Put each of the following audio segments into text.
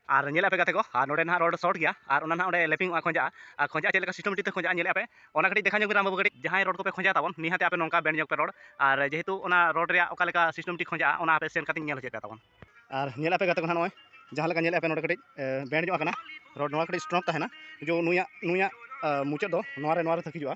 ᱟᱨ ᱧᱮᱞ ᱟᱯᱮ ᱜᱟᱛᱮ ᱠᱚ ᱟᱨ ᱱᱚᱰᱮ ᱱᱟᱦᱟᱜ ᱨᱚᱰ ᱥᱚᱨᱴ ᱜᱮᱭᱟ ᱟᱨ ᱚᱱᱟ ᱱᱟᱦᱟᱜ ᱚᱸᱰᱮ ᱞᱮᱯᱤᱝ ᱚᱜᱼᱟ ᱠᱷᱚᱸᱡᱟᱜᱼᱟ ᱟᱨ ᱠᱷᱚᱸᱡᱟᱜᱼᱟ ᱪᱮᱫ ᱞᱮᱠᱟ ᱥᱤᱥᱴᱮᱢᱮᱴᱤᱠ ᱛᱮ ᱠᱷᱚᱸᱡᱟᱜᱼᱟ ᱧᱮᱞᱮᱫᱼᱟ ᱯᱮ ᱚᱱᱟ ᱠᱟᱹᱴᱤᱡ ᱫᱮᱠᱷᱟᱣ ᱧᱚᱜᱽ ᱵᱤᱱ ᱨᱟᱢ ᱵᱟᱹᱵᱩ ᱠᱟᱹᱴᱤᱡ ᱡᱟᱦᱟᱸᱭ ᱨᱚᱰ ᱠᱚᱯᱮ ᱠᱷᱚᱸᱡᱟ ᱛᱟᱵᱚᱱ ᱱᱤᱦᱟᱹᱛ ᱟᱯᱮ ᱱᱚᱝᱠᱟ ᱵᱮᱱᱰ ᱧᱚᱜᱽ ᱯᱮ ᱨᱚᱰ ᱟᱨ ᱡᱮᱦᱮᱛᱩ ᱚᱱᱟ ᱨᱚᱰ ᱨᱮᱭᱟᱜ ᱚᱠᱟ ᱞᱮᱠᱟ ᱥᱤᱥᱴᱮᱢᱮᱴᱤᱠ ᱠᱷᱚᱸᱡᱟᱜᱼᱟ ᱚᱱᱟ ᱟᱯᱮ ᱥᱮᱱ ᱠᱟᱛᱮ ᱧᱮᱞ ᱦᱚᱪᱚᱭ ᱯᱮ ᱛᱟᱵᱚᱱ ᱟᱨ ᱧᱮᱞ ᱟᱯᱮ ᱜᱟᱛᱮ ᱠᱚ ᱱᱟᱦᱟᱜ ᱱᱚᱜᱼᱚᱭ ᱡᱟᱦᱟᱸ ᱞᱮᱠᱟ ᱧᱮᱞᱮᱫᱼᱟ ᱯᱮ ᱱᱚᱰᱮ ᱠᱟᱹᱴᱤᱡ ᱵᱮᱱᱰ ᱧᱚᱜ ᱟᱠᱟᱱᱟ ᱨᱚᱰ ᱱᱚᱣᱟ ᱠᱟᱹᱴᱤᱡ ᱥᱴᱨᱚᱝ ᱛᱟᱦᱮᱱᱟ ᱡᱮ ᱱᱩᱭᱟᱜ ᱱᱩᱭᱟᱜ ᱢᱩᱪᱟᱹᱫ ᱫᱚ ᱱᱚᱣᱟ ᱨᱮ ᱱᱚᱣᱟ ᱨᱮ ᱛᱟᱹᱠᱤᱡᱚᱜᱼᱟ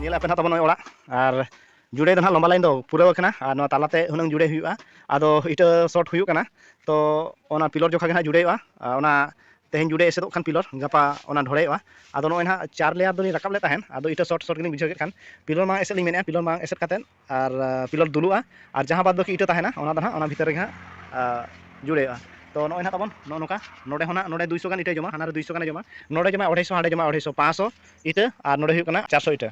ᱧᱮᱞ ᱟᱯᱮ ᱱᱟᱜ ᱛᱟᱵᱚᱱ ᱱᱚᱜᱼᱚᱭ ᱚᱲᱟᱜ ᱟᱨ ᱡᱩᱲᱮ ᱫᱚ ᱱᱟᱜ ᱞᱚᱢᱵᱟ ᱞᱟᱭᱤᱱ ᱫᱚ ᱯᱩᱨᱟᱹᱣ ᱟᱠᱟᱱᱟ ᱟᱨ ᱱᱚᱣᱟ ᱛᱟᱞᱟᱛᱮ ᱦᱩᱱᱟᱹᱝ ᱡᱩᱲᱮ ᱦᱩᱭᱩᱜᱼᱟ ᱟᱫᱚ ᱤᱴᱟᱹ ᱥᱚᱴ ᱦᱩᱭᱩᱜ ᱠᱟᱱᱟ ᱛᱚ ᱚᱱᱟ ᱯᱤᱞᱚᱨ ᱡᱚᱠᱷᱟ ᱜᱮ ᱱᱟᱜ ᱡᱩᱲᱮ ᱦᱩᱭᱩᱜᱼᱟ ᱚᱱᱟ ᱛᱮᱦᱮᱧ ᱡᱩᱲᱮ ᱮᱥᱮᱫᱚᱜ ᱠᱷᱟᱱ ᱯᱤᱞᱚᱨ ᱜᱟᱯᱟ ᱚᱱᱟ ᱰᱷᱚᱲᱮᱭᱚᱜᱼᱟ ᱟᱫᱚ ᱱᱚᱜᱼᱚᱭ ᱱᱟᱜ ᱪᱟᱨ ᱞᱮᱭᱟᱨ ᱫᱚᱞᱤᱧ ᱨᱟᱠᱟᱵ ᱞᱮᱫ ᱛᱟᱦᱮᱸᱫ ᱟᱫᱚ ᱤᱴᱟᱹ ᱥᱚᱴ ᱥᱚᱴ ᱜᱮᱞᱤᱧ ᱵᱩᱡᱷᱟᱹᱣ ᱠᱮᱫ ᱠᱷᱟᱱ ᱯᱤᱞᱚᱨ ᱢᱟᱲᱟᱝ ᱮᱥᱮᱫ ᱞᱤᱧ ᱢᱮᱱᱮᱫᱼᱟ ᱯᱤᱞᱚᱨ ᱢᱟᱲᱟᱝ ᱮᱥᱮᱫ ᱠᱟᱛᱮᱫ ᱟᱨ ᱯᱤᱞᱚᱨ ᱫᱩᱞᱩᱜᱼᱟ ᱟᱨ ᱡᱟᱦᱟᱸ ᱵᱟᱫ ᱵᱟᱹᱠᱤ ᱤᱴᱟᱹ ᱛᱟᱦᱮᱱᱟ ᱚᱱᱟ ᱫᱚ ᱱᱟᱦᱟᱜ ᱚᱱᱟ ᱵᱷᱤᱛᱟᱹᱨ ᱨᱮᱜᱮ ᱦᱟᱸᱜ ᱡᱩᱲᱟᱹᱣᱼᱟ ᱛᱚ ᱱᱚᱜᱼᱚᱭ ᱱᱟᱦᱟᱜ ᱛᱟᱵᱚᱱ ᱱᱚᱜᱼᱚ ᱱᱚᱝᱠᱟ ᱱᱚᱰᱮ ᱦᱚᱸ ᱱᱟᱦᱟᱜ ᱱᱚᱰᱮ ᱫᱩᱭ ᱥᱚ ᱜᱟᱱ ᱤᱴᱟᱹᱭ ᱡᱚᱢᱟ ᱦᱟᱱᱟ ᱨᱮ ᱫᱩᱭ ᱥᱚ ᱜᱟᱱᱮ ᱡᱚᱢᱟ ᱱᱚᱰᱮ ᱡᱚᱢᱟ ᱚᱲᱟᱭ ᱥᱚ ᱦᱟᱸᱰᱮ ᱡᱚᱢᱟ ᱚᱲᱟᱭ ᱥᱚ ᱯᱟᱸᱪ ᱥᱚ ᱤᱴᱟᱹ ᱟᱨ ᱱᱚᱰᱮ ᱦᱩᱭᱩᱜ ᱠᱟᱱᱟ ᱪᱟᱨ ᱥᱚ ᱤᱴᱟᱹ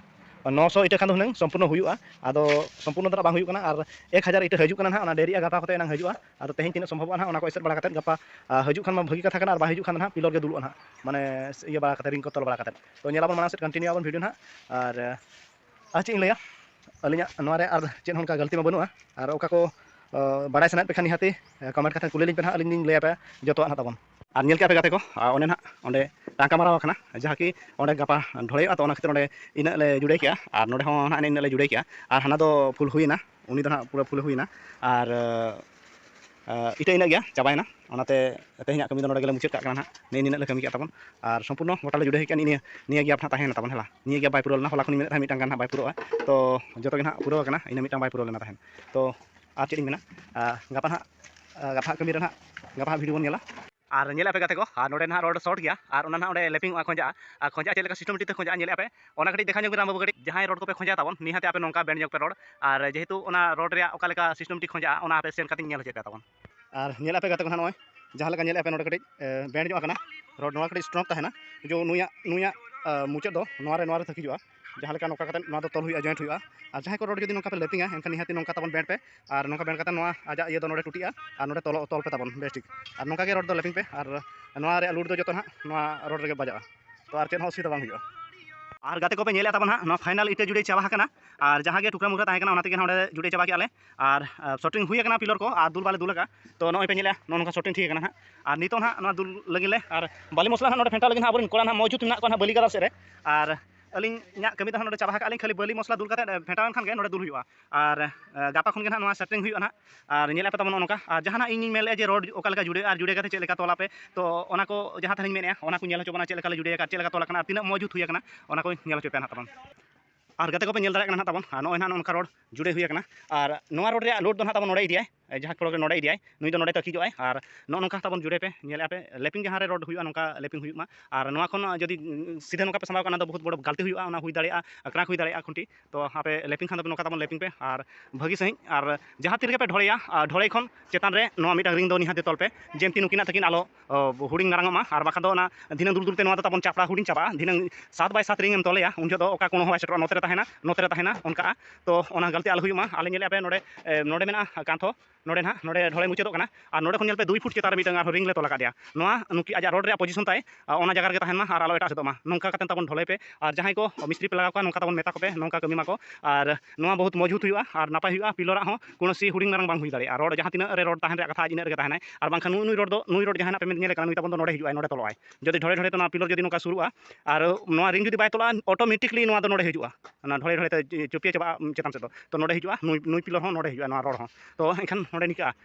ᱱᱚ ᱥᱚ ᱤᱴᱟᱹ ᱠᱷᱟᱱ ᱫᱚ ᱦᱩᱱᱟᱹᱝ ᱥᱚᱢᱯᱩᱨᱱᱚ ᱦᱩᱭᱩᱜᱼᱟ ᱟᱫᱚ ᱥᱚᱢᱯᱩᱨᱱᱚ ᱫᱚ ᱱᱟᱦᱟᱜ ᱵᱟᱝ ᱦᱩᱭᱩᱜ ᱠᱟᱱᱟ ᱟᱨ ᱮᱠ ᱦᱟᱡᱟᱨ ᱤᱴᱟᱹ ᱦᱤᱡᱩᱜ ᱠᱟᱱᱟ ᱱᱟᱦᱟᱜ ᱚᱱᱟ ᱰᱮᱨᱤᱜᱼᱟ ᱜᱟᱯᱟ ᱠᱚᱛᱮ ᱮᱱᱟᱝ ᱦᱤᱡᱩᱜᱼᱟ ᱟᱫᱚ ᱛᱮᱦᱮᱧ ᱛᱤᱱᱟᱹᱜ ᱥᱚᱢᱵᱷᱚᱵᱚᱜᱼᱟ ᱱᱟᱦᱟᱜ ᱚᱱᱟ ᱠᱚ ᱮᱥᱮᱫ ᱵᱟᱲᱟ ᱠᱟᱛᱮᱫ ᱜᱟᱯᱟ ᱦᱤᱡᱩᱜ ᱠᱷᱟᱱ ᱢᱟ ᱵᱷᱟᱹᱜᱤ ᱠᱟᱛᱷᱟ ᱠᱟᱱᱟ ᱟᱨ ᱵᱟᱭ ᱦᱤᱡᱩᱜ ᱠᱷᱟᱱ ᱫᱚ ᱱᱟᱦᱟᱜ ᱯᱤᱞᱚᱨ ᱜᱮ ᱫᱩᱞᱩᱜᱼᱟ ᱱᱟᱦᱟᱜ ᱢᱟᱱᱮ ᱤᱭᱟᱹ ᱵᱟᱲᱟ ᱠᱟᱛᱮᱫ ᱨᱤᱝ ᱠᱚ ᱛᱚᱞ ᱵᱟᱲᱟ ᱠᱟᱛᱮᱫ ᱛᱚ ᱧᱮᱞ ᱟᱵᱚᱱ ᱢᱟᱲᱟᱝ ᱥᱮᱫ ᱠᱚᱱᱴᱤᱱᱤᱭᱩ ᱟᱵᱚᱱ ᱵᱷᱤᱰᱤᱭᱳ ᱱᱟᱦᱟᱜ ᱟᱨ ᱟᱨ ᱪᱮᱫ ᱤᱧ ᱞᱟᱹᱭᱟ ᱟᱹᱞᱤᱧᱟᱜ ᱱᱚᱣᱟ ᱨᱮ ᱟᱨ ᱪᱮᱫ ᱦᱚᱸ ᱚᱱᱠᱟ ᱜᱟᱹᱞᱛᱤ ᱢᱟ ᱵᱟᱹᱱᱩᱜᱼᱟ ᱟᱨ ᱚᱠᱟ ᱠᱚ ᱵᱟᱲᱟᱭ ᱥᱟᱱᱟᱭᱮᱫ ᱯᱮ ᱠᱷᱟᱱ ᱱᱤᱦᱟᱹᱛᱤ ᱠᱚᱢᱮᱱᱴ ᱠᱟᱛᱮ ᱠᱩᱞᱤ ᱞᱤᱧ ᱯᱮ ᱱᱟᱦᱟᱜ ᱟᱹᱞᱤᱧ ᱞᱤᱧ ᱞᱟᱹᱭ ᱟᱯᱮᱭᱟ ᱡᱚᱛᱚᱣᱟᱜ ᱱᱟᱦᱟᱜ ᱛᱟᱵᱚᱱ ᱟᱨ ᱧᱮᱞ ᱠᱮᱜᱼᱟ ᱯᱮ ᱜᱟᱛᱮ ᱠᱚ ᱚᱱᱮ ᱱᱟᱦᱟᱜ ᱚᱸᱰᱮ ᱴᱟᱝᱠᱟ ᱢᱟᱨᱟᱣ ᱟᱠᱟᱱᱟ ᱡᱟᱦᱟᱸ ᱠᱤ ᱚᱸᱰᱮ ᱜᱟᱯᱟ ᱰᱷᱚᱲᱮᱭᱚᱜᱼᱟ ᱛᱚ ᱚᱱᱟ ᱠᱷᱟᱹᱛᱤᱨ ᱚᱸᱰᱮ ᱤᱱᱟᱹᱜ ᱞᱮ ᱡᱩᱲᱟᱹᱭ ᱠᱮᱜᱼᱟ ᱟᱨ ᱱᱚᱸᱰᱮ ᱦᱚᱸ ᱱᱟᱦᱟᱜ ᱤᱱᱟᱹᱜ ᱞᱮ ᱡᱩᱲᱟᱹᱭ ᱠᱮᱜᱼᱟ ᱟᱨ ᱦᱟᱱᱟ ᱫᱚ ᱯᱷᱩᱞ ᱦᱩᱭᱮᱱᱟ ᱩᱱᱤ ᱫᱚ ᱱᱟᱦᱟᱜ ᱯᱩᱨᱟᱹ ᱯᱷᱩᱞ ᱦᱩᱭᱮᱱᱟ ᱟᱨ ᱤᱛᱟᱹ ᱤᱱᱟᱹᱜ ᱜᱮᱭᱟ ᱪᱟᱵᱟᱭᱮᱱᱟ ᱚᱱᱟᱛᱮ ᱛᱮᱦᱮᱧᱟᱜ ᱠᱟᱹᱢᱤ ᱫᱚ ᱱᱚᱰᱮ ᱜᱮᱞᱮ ᱢᱩᱪᱟᱹᱫ ᱠᱟᱜ ᱠᱟᱱᱟ ᱱᱟᱦᱟᱜ ᱱᱮᱜᱼᱮ ᱱᱤᱱᱟᱹᱜ ᱞᱮ ᱠᱟᱹᱢᱤ ᱠᱮᱫ ᱛᱟᱵᱚᱱ ᱟᱨ ᱥᱚᱢᱯᱩᱨᱱᱚ ᱜᱚᱴᱟᱞᱮ ᱡᱩᱲᱟᱹᱣ ᱦᱮᱡ ᱠᱟᱱᱟ ᱱᱤᱭᱟᱹ ᱱᱤᱭᱟᱹ ᱜᱮᱯ ᱱᱟᱦᱟᱜ ᱛᱟᱦᱮᱸᱭᱮᱱᱟ ᱛᱟᱵᱚᱱ ᱦᱮᱸ ᱵᱟᱝ ᱱᱤᱭᱟᱹ ᱜᱮᱯ ᱵᱟᱭ ᱯᱩᱨᱟᱹᱣ ᱞᱮᱱᱟ ᱦᱚᱞᱟ ᱠᱷᱚᱱᱤᱧ ᱢᱮᱱᱮᱫ ᱛᱟᱦᱮᱸᱫ ᱢᱤᱫᱴᱟᱝ ᱜᱟᱱ ᱱᱟᱦᱟᱜ ᱵᱟᱭ ᱯᱩᱨᱟᱹᱜᱼᱟ ᱛᱚ ᱡᱚᱛᱚ ᱜᱮ ᱱᱟᱦᱟᱜ ᱯᱩᱨᱟᱹᱣ ᱠᱟᱱᱟ ᱤᱱᱟᱹ ᱢᱤᱫᱴᱟᱝ ᱵᱟᱭ ᱯᱩᱨᱟᱹᱣ ᱞᱮᱱᱟ ᱛᱟᱦᱮᱸᱫ ᱛᱚ ᱟᱨ ᱪᱮᱫ ᱤᱧ ᱢᱮᱱᱟ ᱜᱟᱯᱟ ᱱᱟᱦᱟᱜ ᱜᱟᱯᱟᱣᱟᱜ ᱠᱟᱹᱢᱤ ᱨᱮ ᱱᱟᱦᱟᱜ ᱜᱟᱯᱟ ᱦᱟᱸᱜ ᱵᱷᱤᱰᱤᱭᱳ ᱵᱚᱱ ᱧᱮᱞᱟ ᱟᱨ ᱧᱮᱞ ᱟᱯᱮ ᱜᱟᱛᱮ ᱠᱚ ᱟᱨ ᱱᱚᱰᱮ ᱱᱟᱦᱟᱜ ᱨᱚᱰ ᱥᱚᱨᱴ ᱜᱮᱭᱟ ᱟᱨ ᱚᱱᱟ ᱱᱟᱦᱟᱜ ᱚᱸᱰᱮ ᱞᱮᱯᱤᱝ ᱚᱜᱼᱟ ᱠᱷᱚᱸᱡᱟᱜᱼᱟ ᱟᱨ ᱠᱷᱚᱸᱡᱟᱜᱼᱟ ᱪᱮᱫ ᱞᱮᱠᱟ ᱥᱤᱥᱴᱮᱢᱮᱴᱤᱠ ᱛᱮ ᱠᱷᱚᱸᱡᱟᱜᱼᱟ ᱧᱮᱞᱮᱫᱼᱟ ᱯᱮ ᱚᱱᱟ ᱠᱟᱹᱴᱤᱡ ᱫᱮᱠᱷᱟᱣ ᱧᱚᱜᱽ ᱵᱤᱱ ᱨᱟᱢ ᱵᱟᱹᱵᱩ ᱠᱟᱹᱴᱤᱡ ᱡᱟᱦᱟᱸᱭ ᱨᱚᱰ ᱠᱚᱯᱮ ᱠᱷᱚᱸᱡᱟ ᱛᱟᱵᱚᱱ ᱱᱤᱦᱟᱹᱛ ᱟᱯᱮ ᱱᱚᱝᱠᱟ ᱵᱮᱱᱰ ᱧᱚᱜᱽ ᱯᱮ ᱨᱚᱰ ᱟᱨ ᱡᱮᱦᱮᱛᱩ ᱚᱱᱟ ᱨᱚᱰ ᱨᱮᱭᱟᱜ ᱚᱠᱟ ᱞᱮᱠᱟ ᱥᱤᱥᱴᱮᱢᱮᱴᱤᱠ ᱠᱷᱚᱸᱡᱟᱜᱼᱟ ᱚᱱᱟ ᱟᱯᱮ ᱥᱮᱱ ᱠᱟᱛᱮ ᱧᱮᱞ ᱦᱚᱪᱚᱭ ᱯᱮ ᱛᱟᱵᱚᱱ ᱟᱨ ᱧᱮᱞ ᱟᱯᱮ ᱜᱟᱛᱮ ᱠᱚ ᱱᱟᱦᱟᱜ ᱱᱚᱜᱼᱚᱭ ᱡᱟᱦᱟᱸ ᱞᱮᱠᱟ ᱧᱮᱞ ᱟᱯᱮ ᱱᱚᱰᱮ ᱠᱟᱹᱴᱤᱡ ᱵᱮᱱᱰ ᱧᱚᱜ ᱟᱠᱟᱱᱟ ᱨᱚᱰ ᱱᱚᱣᱟ ᱠᱟᱹᱴᱤᱡ ᱥᱴᱨᱚᱝ ᱛᱟᱦᱮᱱᱟ ᱡᱮ ᱱᱩᱭᱟᱜ ᱱᱩᱭᱟᱜ ᱢᱩᱪᱟᱹᱫ ᱫᱚ ᱱᱚᱣᱟ ᱨᱮ ᱱᱚᱣᱟ ᱨᱮ ᱛᱟᱹᱠᱤᱡᱚᱜᱼᱟ ᱡᱟᱦᱟᱸ ᱞᱮᱠᱟ ᱱᱚᱝᱠᱟ ᱠᱟᱛᱮ ᱱᱚᱣᱟ ᱫᱚ ᱛᱚᱞ ᱦᱩᱭᱩᱜᱼᱟ ᱡᱚᱭᱮᱱᱴ ᱦᱩᱭᱩᱜᱼᱟ ᱟᱨ ᱡᱟᱦᱟᱸᱭ ᱠᱚ ᱨᱚᱰ ᱡᱩᱫᱤ ᱱᱚᱝᱠᱟ ᱯᱮ ᱞᱮᱯᱤᱝᱟ ᱮᱱᱠᱷᱟᱱ ᱱᱤᱦᱟᱹᱛ ᱱᱚᱝᱠᱟ ᱛᱟᱵᱚᱱ ᱵᱮᱱᱰ ᱯᱮ ᱟᱨ ᱱᱚᱝᱠᱟ ᱵᱮᱱᱰ ᱠᱟᱛᱮ ᱱᱚᱣᱟ ᱟᱡᱟᱜ ᱤᱭᱟᱹ ᱫᱚ ᱱᱚᱰᱮ ᱴᱩᱴᱤᱜᱼᱟ ᱟᱨ ᱱᱚᱰᱮ ᱛᱚᱞ ᱛᱚᱞ ᱯᱮ ᱛᱟᱵᱚᱱ ᱵᱮᱥ ᱴᱷᱤᱠ ᱟᱨ ᱱᱚᱝᱠᱟ ᱜᱮ ᱨᱚᱰ ᱫᱚ ᱞᱮᱯᱤᱝ ᱯᱮ ᱟᱨ ᱱᱚᱣᱟ ᱨᱮᱭᱟᱜ ᱞᱩᱰ ᱫᱚ ᱡᱚᱛᱚ ᱦᱟᱸᱜ ᱱᱚᱣᱟ ᱨᱚᱰ ᱨᱮᱜᱮ ᱵᱟᱡᱟᱜᱼᱟ ᱛᱚ ᱟᱨ ᱪᱮᱫ ᱦᱚᱸ ᱚᱥᱩᱵᱤᱫᱷᱟ ᱵᱟᱝ ᱦᱩᱭᱩᱜᱼᱟ ᱟᱨ ᱜᱟᱛᱮ ᱠᱚᱯᱮ ᱧᱮᱞᱮᱫ ᱛᱟᱵᱚᱱᱟ ᱦᱟᱸᱜ ᱱᱚᱣᱟ ᱯᱷᱟᱭᱱᱟᱞ ᱤᱴᱟᱹ ᱡᱩᱲᱟᱹᱭ ᱪᱟᱵᱟ ᱟᱠᱟᱱᱟ ᱟᱨ ᱡᱟᱦᱟᱸ ᱜᱮ ᱴᱩᱠᱨᱟᱹ ᱢᱩᱠᱨᱟᱹ ᱛᱟᱦᱮᱸ ᱠᱟᱱᱟ ᱚᱱᱟ ᱛᱮᱜᱮ ᱱᱚᱰᱮ ᱡᱩᱲᱟᱹᱭ ᱪᱟᱵᱟ ᱠᱮᱜᱼᱟ ᱞᱮ ᱟᱨ ᱥᱚᱴᱤᱝ ᱦᱩᱭ ᱟᱠᱟᱱᱟ ᱯᱤᱞᱚᱨ ᱠᱚ ᱟᱨ ᱫᱩᱞ ᱵᱟᱞᱮ ᱫᱩᱞ ᱟᱠᱟᱫᱼᱟ ᱛᱚ ᱱᱚᱜᱼᱚᱭ ᱯᱮ ᱧᱮᱞᱮᱫᱼᱟ ᱱᱚᱜᱼᱚ ᱱᱚᱝᱠᱟ ᱥᱚᱴᱤᱝ ᱴᱷᱤᱠ ᱟᱠᱟᱱᱟ ᱦᱟᱸᱜ ᱟᱨ ᱱᱤᱛᱚᱜ ᱦᱟᱸᱜ ᱱᱚᱣᱟ ᱫᱩᱞ ᱞᱟᱹᱜᱤᱫ ᱞᱮ ᱟᱨ ᱵᱟᱹᱞᱤ ᱢᱚᱥᱞᱟ ᱦᱟᱸᱜ ᱱᱚᱰᱮ ᱯᱷᱮᱱᱴᱟᱣ ᱞᱟᱹᱜᱤᱫ ᱦᱟᱸᱜ ᱟᱵᱚᱨᱮᱱ ᱠᱚᱲᱟ ᱦᱟᱸᱜ ᱢᱚᱡᱩᱫ ᱢᱮᱱᱟᱜ ᱠᱚᱣᱟ ᱦᱟᱸᱜ ᱵᱟᱹᱞᱤ ᱜᱟᱫᱟᱞ ᱥᱮᱫ ᱨᱮ ᱟᱨ ᱟᱹᱞᱤᱧᱟᱜ ᱠᱟᱹᱢᱤ ᱫᱚ ᱦᱟᱸᱜ ᱱᱚᱰᱮ ᱪᱟᱵᱟ ᱟᱠᱟᱫᱼᱟ ᱞᱤᱧ ᱠᱷᱟᱹᱞᱤ ᱵᱟᱹᱞᱤ ᱢᱚᱥᱞᱟ ᱫᱩᱞ ᱠᱟᱛᱮᱫ ᱯᱷᱮᱱᱴᱟᱣ ᱞᱮᱱᱠᱷᱟᱱ ᱜᱮ ᱱᱚᱰᱮ ᱫᱩᱞ ᱦᱩᱭᱩᱜᱼᱟ ᱟᱨ ᱜᱟᱯᱟ ᱠᱷᱚᱱ ᱜᱮ ᱦᱟᱸᱜ ᱱᱚᱣᱟ ᱥᱮᱴᱤᱝ ᱦᱩᱭᱩᱜᱼᱟ ᱦᱟᱸᱜ ᱟᱨ ᱧᱮᱞ ᱟᱯᱮ ᱛᱟᱵᱚᱱ ᱱᱚᱜᱼᱚ ᱱᱚᱝᱠᱟ ᱟᱨ ᱡᱟᱦᱟᱱᱟᱜ ᱤᱧᱤᱧ ᱢᱮᱱ ᱞᱮᱫᱼᱟ ᱡᱮ ᱨᱚᱰ ᱚᱠᱟ ᱞᱮᱠᱟ ᱡᱩᱲᱟᱹᱜᱼᱟ ᱟᱨ ᱡᱩᱲᱟᱹ ᱠᱟᱛᱮᱫ ᱪᱮᱫ ᱞᱮᱠᱟ ᱛᱚᱞ ᱟᱯᱮ ᱛᱚ ᱚᱱᱟ ᱠᱚ ᱡᱟᱦᱟᱸ ᱛᱟᱦᱮᱱᱤᱧ ᱢᱮᱱᱮᱫᱼᱟ ᱚᱱᱟ ᱠᱚ ᱧᱮᱞ ᱦᱚᱪᱚ ᱵᱚᱱᱟ ᱪᱮᱫ ᱞᱮᱠᱟ ᱞᱮ ᱡᱩᱲᱟᱹᱭᱟ ᱟᱨ ᱪᱮᱫ ᱞᱮᱠᱟ ᱛᱚᱞ ᱟᱠᱟᱱᱟ ᱟᱨ ᱛᱤᱱᱟᱹᱜ ᱢᱚᱡᱽ ᱡᱩᱛ ᱦᱩᱭ ᱟᱠᱟᱱᱟ ᱚᱱᱟ ᱠᱚᱧ ᱧᱮᱞ ᱦᱚᱪᱚ ᱯᱮᱭᱟ ᱦᱟᱸᱜ ᱛᱟᱵᱚᱱ ᱟᱨ ᱜᱟᱛᱮ ᱠᱚᱯᱮ ᱧᱮᱞ ᱫᱟᱲᱮᱭᱟᱜ ᱠᱟᱱᱟ ᱛᱟᱵᱚᱱ ᱟᱨ ᱱᱚᱜᱼᱚᱭ ᱱᱟᱦᱟᱜ ᱱᱚᱝᱠᱟ ᱨᱳᱰ ᱡᱩᱲᱮ ᱦᱩᱭ ᱟᱠᱟᱱᱟ ᱟᱨ ᱱᱚᱣᱟ ᱨᱳᱰ ᱨᱮᱭᱟᱜ ᱞᱳᱰ ᱫᱚ ᱱᱟᱦᱟᱜ ᱛᱟᱵᱚᱱ ᱱᱚᱰᱮ ᱤᱫᱤᱭᱟᱭ ᱡᱟᱦᱟᱸ ᱠᱚᱲᱟ ᱱᱚᱰᱮ ᱤᱫᱤᱭᱟᱭ ᱱᱩᱭ ᱫᱚ ᱱᱚᱰᱮ ᱛᱟᱹᱠᱤᱡᱚᱜᱼᱟᱭ ᱟᱨ ᱱᱚᱜᱼᱚ ᱱᱚᱝᱠᱟ ᱛᱟᱵᱚᱱ ᱡᱩᱲᱮ ᱯᱮ ᱧᱮᱞᱮᱫᱼᱟ ᱯᱮ ᱞᱮᱯᱤᱝ ᱡᱟᱦᱟᱸ ᱨᱮ ᱨᱳᱰ ᱦᱩᱭᱩᱜᱼᱟ ᱱᱚᱝᱠᱟ ᱞᱮᱯᱤᱝ ᱦᱩᱭᱩᱜ ᱢᱟ ᱟᱨ ᱱᱚᱣᱟ ᱠᱷᱚᱱ ᱡᱩᱫᱤ ᱥᱤᱫᱷᱟᱹ ᱱᱚᱝᱠᱟ ᱯᱮ ᱥᱟᱢᱵᱟᱣ ᱠᱟᱜᱼᱟ ᱚᱱᱟ ᱫᱚ ᱵᱚᱦᱩᱛ ᱵᱚᱲᱚ ᱜᱟᱹᱞᱛᱤ ᱦᱩᱭᱩᱜᱼᱟ ᱚᱱᱟ ᱦᱩᱭ ᱫᱟᱲᱮᱭᱟᱜᱼᱟ ᱟᱠᱷᱲᱟ ᱦᱩᱭ ᱫᱟᱲᱮᱭᱟᱜᱼᱟ ᱠᱷᱩᱱᱴᱤ ᱛᱚ ᱟᱯᱮ ᱞᱮᱯᱤᱝ ᱠᱷᱟᱱ ᱫᱚ ᱱᱚᱝᱠᱟ ᱛᱟᱵᱚᱱ ᱞᱮᱯᱤᱝ ᱯᱮ ᱟᱨ ᱵᱷᱟᱹᱜᱤ ᱥᱟᱺᱦᱤᱡ ᱟᱨ ᱡᱟᱦᱟᱸ ᱛᱤ ᱨᱮᱜᱮ ᱯᱮ ᱰᱷᱚᱲᱮᱭᱟ ᱰᱷᱚᱲᱮ ᱠᱷᱚᱱ ᱪᱮᱛᱟᱱ ᱨᱮ ᱱᱚᱣᱟ ᱢᱤᱫᱴᱟᱝ ᱨᱤᱝ ᱫᱚ ᱱᱤᱦᱟᱹᱛ ᱜᱮ ᱛᱚᱞ ᱯᱮ ᱡᱮ ᱱᱩᱠᱤᱱᱟᱜ ᱛᱟᱹᱠᱤᱱ ᱟᱞᱚ ᱦᱩᱰᱤᱧ ᱢᱟᱨᱟᱝᱚᱜ ᱢᱟ ᱟᱨ ᱵᱟᱠᱷᱟᱱ ᱫᱚ ᱚᱱᱟ ᱫᱷᱤᱱᱟᱹᱝ ᱫᱩᱞ ᱫᱩᱞ ᱛᱮ ᱱᱚᱣᱟ ᱫᱚ ᱛᱟᱵᱚᱱ ᱪᱟᱯᱲᱟ ᱦᱩᱰᱤᱧ ᱪᱟᱵᱟᱜᱼᱟ ᱫᱷᱤᱱᱟᱹᱝ ᱥᱟᱛ ᱵᱟᱭ ᱥᱟᱛ ᱨᱤᱝ ᱮᱢ ᱛᱚᱞᱮᱭᱟ ᱩᱱ ᱡᱚᱦᱚᱜ ᱫᱚ ᱚᱠᱟ ᱠᱚᱬ ᱦᱚᱸ ᱵᱟᱭ ᱥᱮᱴᱮᱨᱚᱜᱼᱟ ᱱᱚᱛᱮ ᱨᱮ ᱛᱟᱦᱮᱱᱟ ᱱᱚᱛᱮ ᱨᱮ ᱛᱟᱦᱮᱱᱟ ᱚᱱᱠᱟᱜᱼᱟ ᱛᱳ ᱚᱱᱟ ᱜᱟᱹᱞᱛᱤ ᱟᱞᱚ ᱦᱩᱭᱩᱜ ᱢᱟ ᱟᱞᱮ ᱧᱮᱞᱮᱫᱼᱟ ᱟᱯᱮ ᱱᱚᱰᱮ ᱱᱚᱰᱮ ᱢᱮᱱᱟᱜᱼᱟ ᱠᱟᱸᱛ ᱦᱚᱸ ᱱᱚᱰᱮ ᱦᱟᱸᱜ ᱱᱚᱰᱮ ᱰᱷᱚᱲᱮ ᱢᱩᱪᱟᱹᱫᱚᱜ ᱠᱟᱱᱟ ᱟᱨ ᱱᱚᱰᱮ ᱠᱷᱚᱱ ᱧᱮᱞ ᱯᱮ ᱫᱩᱭ ᱯᱷᱩᱴ ᱪᱮᱛᱟᱱ ᱨᱮ ᱢᱤᱫᱴᱟᱝ ᱟᱨᱦᱚᱸ ᱨᱤᱝ ᱞᱮ ᱛᱚᱞ ᱟᱠᱟᱫᱮᱭᱟ ᱱᱚᱣᱟ ᱱᱩᱠᱤᱱ ᱟᱡᱟᱜ ᱨᱳᱰ ᱨᱮᱭᱟᱜ ᱯᱚᱡᱤᱥᱚᱱ ᱛᱟᱭ ᱚᱱᱟ ᱡᱟᱭᱜᱟ ᱨᱮᱜᱮ ᱛᱟᱦᱮᱱ ᱢᱟ ᱟᱨ ᱟᱞᱚ ᱮᱴᱟᱜ ᱥᱮᱫᱚᱜ ᱢᱟ ᱱᱚᱝᱠᱟ ᱠᱟᱛᱮᱫ ᱛᱟᱵᱚᱱ ᱰᱷᱟᱹᱞᱟᱹᱭ ᱯᱮ ᱟᱨ ᱡᱟᱦᱟᱸᱭ ᱠᱚ ᱢᱤᱥᱛᱨᱤ ᱯᱮ ᱞᱟᱜᱟᱣ ᱠᱚᱣᱟ ᱱᱚᱝᱠᱟ ᱛᱟᱵᱚᱱ ᱢᱮᱛᱟ ᱠᱚᱯᱮ ᱱᱚᱝᱠᱟ ᱠᱟᱹᱢᱤ ᱢᱟᱠᱚ ᱟᱨ ᱱᱚᱣᱟ ᱵᱚᱦᱩᱛ ᱢᱚᱡᱽᱵᱩᱛ ᱦᱩᱭᱩᱜᱼᱟ ᱟᱨ ᱱᱟᱯᱟᱭ ᱦᱩᱭᱩᱜᱼᱟ ᱯᱤᱞᱚᱨᱟᱜ ᱦᱚᱸ ᱠᱳᱱᱳ ᱥᱤ ᱦᱩᱰᱤᱧ ᱢᱟᱨᱟᱝ ᱵᱟᱝ ᱦᱩᱭ ᱫᱟᱲᱮᱭᱟᱜᱼᱟ ᱨᱚᱰ ᱡᱟᱦᱟᱸ ᱛᱤᱱᱟᱹᱜ ᱨᱮ ᱨᱚᱰ ᱛᱟᱦᱮᱱ ᱨᱮᱭᱟᱜ ᱠᱟᱛᱷᱟ ᱤᱱᱟᱹᱜ ᱨᱮᱜᱮ ᱛᱟᱦᱮᱱᱟᱭ ᱟᱨ ᱵᱟᱝᱠᱷᱟᱱ ᱱᱩᱭ ᱨᱚᱰ ᱫᱚ ᱱᱩᱭ ᱨᱚᱰ ᱡᱟᱦᱟᱱᱟᱜ ᱯᱮ ᱧᱮᱞᱮ ᱠᱟᱱᱟ ᱱᱩᱭ ᱛᱟᱵᱚᱱ ᱫᱚ ᱱᱚᱰᱮ ᱦᱤᱡᱩᱜᱼᱟᱭ ᱱᱚᱰᱮ ᱛᱚᱞᱚᱜᱼᱟᱭ ᱡᱩᱫᱤ ᱰᱷᱚᱲᱮ ᱰᱷᱚᱲᱮ ᱛᱮ ᱱᱚᱣᱟ ᱯᱤᱞᱚᱨ ᱡᱩᱫᱤ ᱱᱚᱝᱠᱟ ᱥᱩᱨᱩᱜᱼᱟ ᱟᱨ ᱱᱚᱣᱟ ᱨᱤᱝ ᱡᱩᱫᱤ ᱵᱟᱭ ᱛᱚᱞᱚᱜᱼᱟ ᱚᱴᱳᱢᱮᱴᱤᱠᱞᱤ ᱱᱚᱣᱟ ᱫᱚ ᱱᱚᱰᱮ ᱦᱤᱡᱩᱜᱼᱟ ᱚᱱᱟ ᱰᱷᱚᱲᱮ ᱰᱷᱚᱲᱮ ᱛᱮ ᱪᱩᱯᱤᱭᱟᱹ ᱪᱟᱵᱟᱜᱼᱟ ᱪᱮᱛᱟᱱ ᱥᱮᱫ ᱫᱚ ᱛᱚ ᱱᱚᱰᱮ ᱦᱤᱡᱩᱜᱼᱟ ᱱᱩᱭ ᱯᱤᱞᱚᱨ ᱦᱚᱸ ᱱᱚᱰᱮ ᱦᱤᱡᱩᱜᱼᱟ ᱱᱚᱣᱟ ᱨᱚᱰ ᱦᱚᱸ ᱛᱚ ᱮᱱᱠᱷᱟᱱ ᱱᱚᱰᱮ ᱱᱤᱝᱠᱟᱹᱜᱼᱟ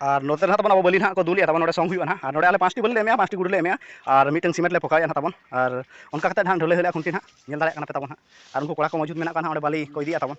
ᱟᱨ ᱱᱚᱛᱮ ᱱᱟᱦᱟᱜ ᱛᱟᱵᱚᱱ ᱟᱵᱚ ᱵᱟᱹᱞᱤ ᱱᱟᱦᱟᱜ ᱠᱚ ᱫᱩᱞᱮᱜᱼᱟ ᱛᱟᱵᱚᱱ ᱱᱚᱰᱮ ᱥᱚᱝ ᱦᱩᱭᱩᱜᱼᱟ ᱱᱟᱦᱟᱜ ᱟᱨ ᱱᱚᱰᱮ ᱟᱞᱮ ᱯᱟᱸᱪᱴᱤ ᱵᱟᱹᱞᱤ ᱞᱮ ᱮᱢᱮᱜᱼᱟ ᱯᱟᱸᱪᱴᱤ ᱜᱩᱰᱤ ᱞᱮ ᱮᱢᱮᱜᱼᱟ ᱟᱨ ᱢᱤᱫᱴᱮᱱ ᱥᱤᱢᱮᱱᱴ ᱞᱮ ᱯᱷᱚᱠᱟᱭᱮᱜᱼᱟ ᱱᱟᱦᱟᱜ ᱛᱟᱵᱚᱱ ᱟᱨ ᱚᱱᱠᱟ ᱠᱟᱛᱮᱫ ᱱᱟᱦᱟᱜ ᱰᱷᱟᱹᱞᱟᱹᱭ ᱦᱩᱭᱩᱜᱼᱟ ᱠᱷᱩᱱᱴᱤ ᱱᱟᱦᱟᱜ ᱧᱮᱞ ᱫᱟᱲᱮᱭᱟᱜ ᱠᱟᱱᱟ ᱯᱮ ᱛᱟᱵᱚᱱ ᱱᱟᱦᱟᱜ ᱟᱨ ᱩᱱᱠᱩ ᱠᱚᱲᱟ ᱠᱚ ᱢᱚᱡᱩᱫ ᱢᱮᱱᱟᱜ ᱠᱚᱣᱟ ᱱᱟᱦᱟᱜ ᱚᱸᱰᱮ ᱵᱟᱹᱞᱤ ᱠᱚ ᱤᱫᱤᱭᱮᱜᱼᱟ ᱛᱟᱵᱚᱱ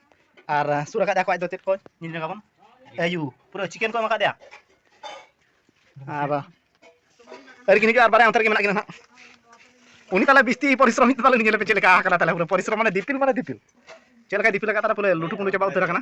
ᱟᱨ ᱥᱩᱨ ᱟᱠᱟᱫ ᱟᱠᱚ ᱟᱡ ᱫᱚ ᱪᱮᱫ ᱠᱚ ᱧᱮᱞ ᱧᱚᱜ ᱟᱵᱚᱱ ᱟᱭᱩ ᱯᱩᱨᱟᱹ ᱪᱤᱠᱮᱱ ᱠᱚ ᱮᱢ ᱟᱠᱟᱫᱮᱭᱟ ᱟᱨ ᱟᱹᱨᱤ ᱠᱤᱱ ᱦᱤᱡᱩᱜᱼᱟ ᱟᱨ ᱵᱟᱨᱭᱟ ᱚᱱᱛᱮ ᱨᱮᱜᱮ ᱢᱮᱱᱟᱜ ᱠᱤᱱᱟ ᱱᱟᱦᱟᱜ ᱩᱱᱤ ᱛᱟᱦᱚᱞᱮ ᱵᱤᱥᱛᱤ ᱯᱚᱨᱤᱥᱨᱚᱢ ᱦᱤᱡᱩᱜ ᱛᱟᱦᱚᱞᱮ ᱧᱮᱞ ᱯᱮ ᱪᱮᱫ ᱞᱮᱠᱟ ᱟᱠᱟᱱᱟ ᱛᱟᱦᱚᱞᱮ ᱯᱩᱨᱟᱹ ᱯᱚᱨᱤᱥᱨᱚᱢ ᱢᱟᱱᱮ ᱫᱤᱯᱤᱞ ᱢᱟᱱᱮ ᱫᱤᱯᱤᱞ ᱪᱮᱫ ᱞᱮᱠᱟᱭ ᱫᱤᱯᱤᱞ ᱟᱠᱟᱫ ᱛᱟᱦᱚᱞᱮ ᱯᱩᱨᱟᱹ ᱞᱩᱴᱩ ᱯᱩᱴᱩ ᱪᱟᱵᱟ ᱩᱛᱟᱹᱨ ᱟᱠᱟᱱᱟ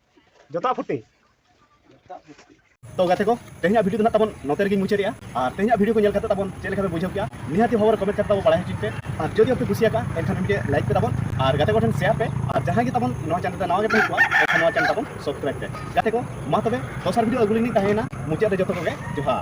ᱡᱚᱛᱚ ᱯᱷᱩᱴᱤ ᱛᱚ ᱜᱟᱛᱮ ᱠᱚ ᱛᱮᱦᱮᱧᱟᱜ ᱵᱷᱤᱰᱤᱭᱳ ᱫᱚ ᱱᱟᱜ ᱛᱟᱵᱚᱱ ᱱᱚᱛᱮ ᱨᱮᱜᱮᱧ ᱢᱩᱪᱟᱹᱫᱮᱜᱼᱟ ᱟᱨ ᱛᱮᱦᱮᱧᱟᱜ ᱵᱷᱤᱰᱤᱭᱳ ᱠᱚ ᱧᱮᱞ ᱠᱟᱛᱮ ᱛᱟᱵᱚᱱ ᱪᱮᱫ ᱞᱮᱠᱟ ᱯᱮ ᱵᱩᱡᱷᱟᱹᱣ ᱠᱮᱜᱼᱟ ᱱᱤᱦᱟᱹᱛᱤ ᱵᱷᱟᱵᱚᱨ ᱠᱚᱢᱮᱱᱴ ᱠᱟᱛᱮ ᱛᱟᱵᱚᱱ ᱵᱟᱲᱟᱭ ᱦᱚᱪᱚᱧ ᱯᱮ ᱟᱨ ᱡᱩᱫᱤ ᱟᱯᱮ ᱠᱩᱥᱤ ᱟᱠᱟᱜᱼᱟ ᱮᱱᱠᱷᱟᱱ ᱢᱤᱫᱴᱮᱡ ᱞᱟᱭᱤᱠ ᱯᱮ ᱛᱟᱵᱚᱱ ᱟᱨ ᱜᱟᱛᱮ ᱠᱚᱴᱷᱮᱱ ᱥᱮᱭᱟᱨ ᱯᱮ ᱟᱨ ᱡᱟᱦᱟᱸᱭ ᱜᱮ ᱛᱟᱵᱚᱱ ᱱᱚᱣᱟ ᱪᱮᱱᱮᱞ ᱨᱮ ᱱᱟᱣᱟ ᱜᱮ ᱛᱟᱦᱮᱸ ᱠᱚᱜᱼᱟ ᱮᱱᱠᱷᱟᱱ ᱱᱚᱣᱟ ᱪᱮᱱᱮᱞ ᱛᱟᱵᱚᱱ ᱥᱟᱵᱥᱠᱨᱟᱭᱤᱵ ᱯᱮ ᱜᱟᱛᱮ ᱠᱚ ᱢᱟ ᱛᱚᱵᱮ ᱫᱚᱥᱟᱨ ᱵᱷᱤᱰᱤᱭᱳ ᱟᱹᱜᱩ ᱞᱤᱧ ᱛᱟᱦᱮᱸᱭᱮᱱᱟ ᱢᱩᱪᱟᱹᱫ ᱨᱮ ᱡᱚᱛᱚ ᱠᱚᱜᱮ ᱡᱚᱦᱟᱨ